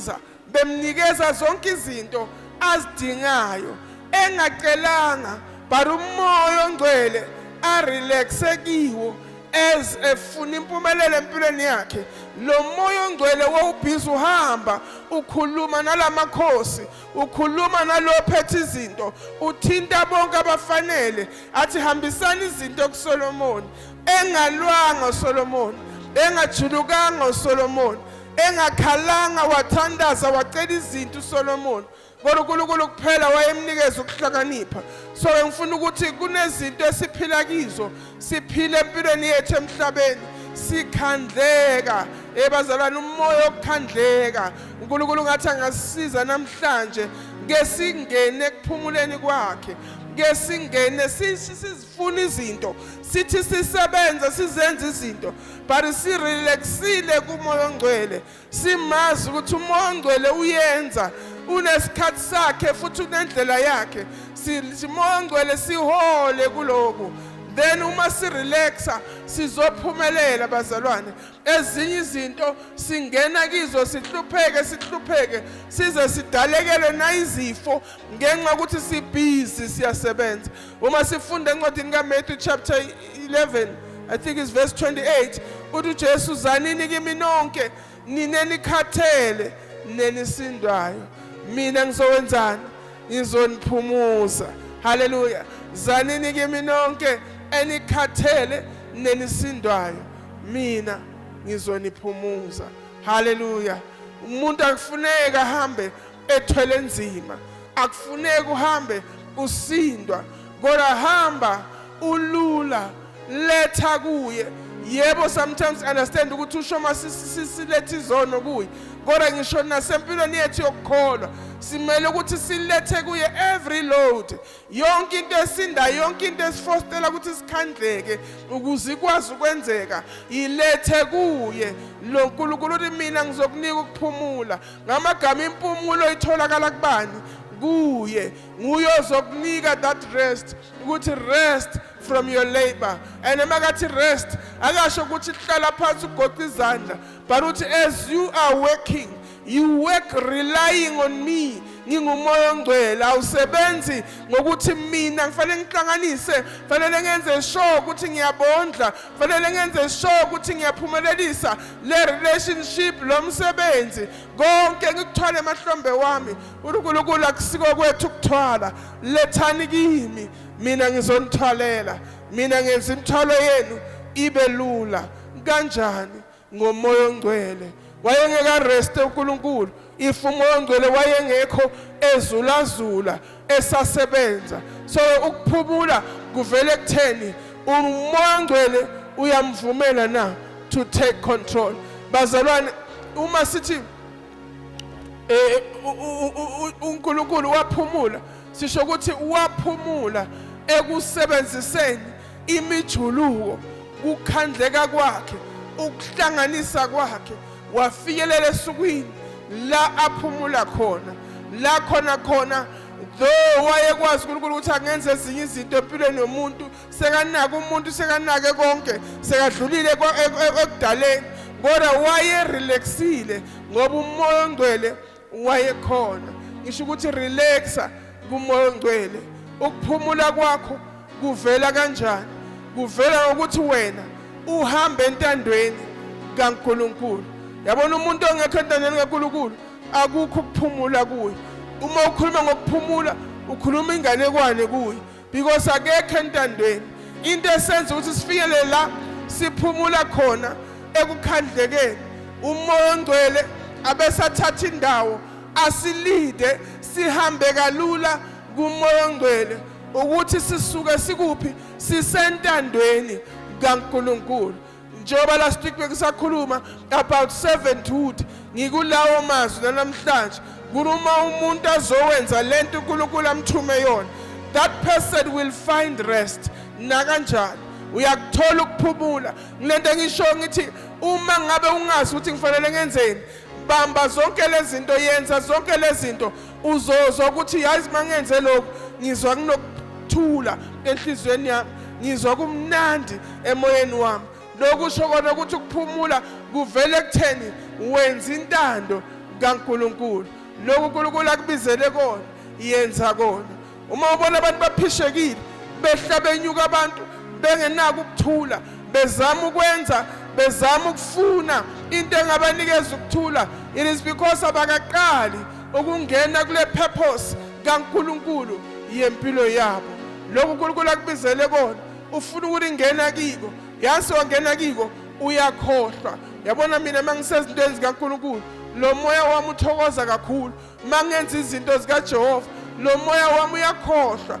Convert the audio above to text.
bemsiza bemnikeza zonke izinto azidingayo engacelanga but umoya ongcwele arelaxe kiwo as efuna impumelelo empilweni yakhe lo moya ongcwele wawubhizi uhamba ukhuluma nalamakhosi ukhuluma nalophethe izinto uthinta bonke abafanele athi hambisani izinto kuSolomon engalwanga uSolomon engajulukanga uSolomon engakhalanga wathandaza wacela izinto uSolomon kodwa uNkulunkulu kuphela wayemnikeza ukuhlakanipha so ngifuna ukuthi kunezinto esiphila kizo siphile empilweni yethu emhlabeni sikhandleka ebazalwane umoya okukhandleka uNkulunkulu ngathi angasisiza namhlanje ke singene ekuphumuleni kwakhe ke singene funa izinto sithi sisebenze sizenze izinto but sirelaxile kumoya ongcwele simazi ukuthi umoya ongcwele uyenza unesikhathi sakhe futhi unendlela yakhe simoya ongcwele sihole kuloku then uma sirelaxa sizophumelela bazalwane ezinye izinto singena kizo sihlupheke sihlupheke size sidalekelwe nayizifo ngenxa ukuthi sibhizi siyasebenza uma sifunda encwadini kaMatthew chapter 11 I think it's verse 28 uthi uJesu zanini kimi nonke nina nikhathele nenisindwayo mina ngizowenzani ngizoniphumuza haleluya zanini kimi nonke enikhathele nenisindwayo mina ngizoniphumuza haleluya umuntu akufuneka ahambe ethwele nzima akufuneki uhambe usindwa kodwa hamba ulula letha kuye yebo sometimes understand ukuthi usho uma silethe izono kuye kodwa ngisho nasempilweni yethu yokukholwa simele ukuthi silethe kuye every load yonke into esindayo yonke into esifostela ukuthi sikhandleke ukuze ikwazi ukwenzeka yilethe kuye lo nkulunkulu uthi mina ngizokunika ukuphumula ngamagama impumulo itholakala kubani kuye nguye ozokunika that rest ukuthi rest from your labor and emakathi rest akasho ukuthi hlala phansi ugoqa izandla but uthi as you are working You work relying on me. Ngingumoya ongcwele awusebenzi ngokuthi mina ngifanele ngihlanganise, fanele ngenze sure ukuthi ngiyabondla, fanele ngenze sure ukuthi ngiyaphumelelisa le relationship lo msebenzi. Konke ngikuthwale emahlombe wami. UNkulunkulu akusiko kwethu ukuthwala. Lethani kimi mina ngizonithwalela. Mina ngenza imithwalo yenu ibe lula. Kanjani? ngomoya ongcwele wayengeka rest uNkulunkulu if umoya ongcwele wayengekho ezulazula esasebenza so ukuphumula kuvele kutheni umoya ongcwele uyamvumela na to take control bazalwane uma sithi eh uNkulunkulu waphumula sisho ukuthi waphumula ekusebenziseni imijuluko kukhandleka kwakhe ukuhlanganisa kwakhe wafikelela esukwini la aphumula khona la khona khona though wayekwazi uNkulunkulu ukuthi angenze ezinye izinto empilweni yomuntu sekanaka umuntu sekanake konke sekadlulile e-, e-, ekudaleni kodwa wayerelaxile ngoba umoya ongcwele wayekhona ngisho ukuthi relaxa kumoya ongcwele ukuphumula kwakho kuvela kanjani kuvela ukuthi wena uhamba entandweni kaNkuluNkulu yabona umuntu ongekho entandweni kaNkuluNkulu akukho ukuphumula kuye uma ukhuluma ngokuphumula ukhuluma inganekwane kuye because akekho entandweni into esenza ukuthi sifinyelele la siphumula khona ekukhandlekeni umoya ongcwele abesathatha indawo asilide sihambe kalula kumoya ongcwele ukuthi sisuke sikuphi sisentandweni kaNkuluNkulu njengoba last week bengisakhuluma about servanthood ngikulawo mazwi nanamhlanje kuluma umuntu azowenza lento uNkulunkulu amthume yona that person will find rest nakanjani uyakuthola ukuphumula ngilento engisho ngithi uma ngabe ungazi ukuthi ngifanele ngenzeni bamba zonke lezinto yenza zonke lezinto uzozwa ukuthi yazi mangenze lokhu ngizwa kunokuthula enhlizweni yami ngizwa kumnandi emoyeni wami lokhu usho kona ukuthi ukuphumula kuvele kutheni wenza intando kaNkuluNkulu lokhu uNkulunkulu akubizele kona yenza kona uma ubona abantu baphishekile behla benyuka abantu bengenako ukuthula bezama ukwenza bezama ukufuna into engabanikeza ukuthula it is because abakaqali ukungena kule purpose kaNkuluNkulu yempilo yabo lokhu uNkulunkulu akubizele kona ufuna ukuthi ngena kiko yazi wangena kiko uyakhohlwa yabona mina mangisezintweni zikaNkuluNkulu lo moya wami uthokoza kakhulu Mangenza izinto zikaJehova, lo moya wami uyakhohlwa.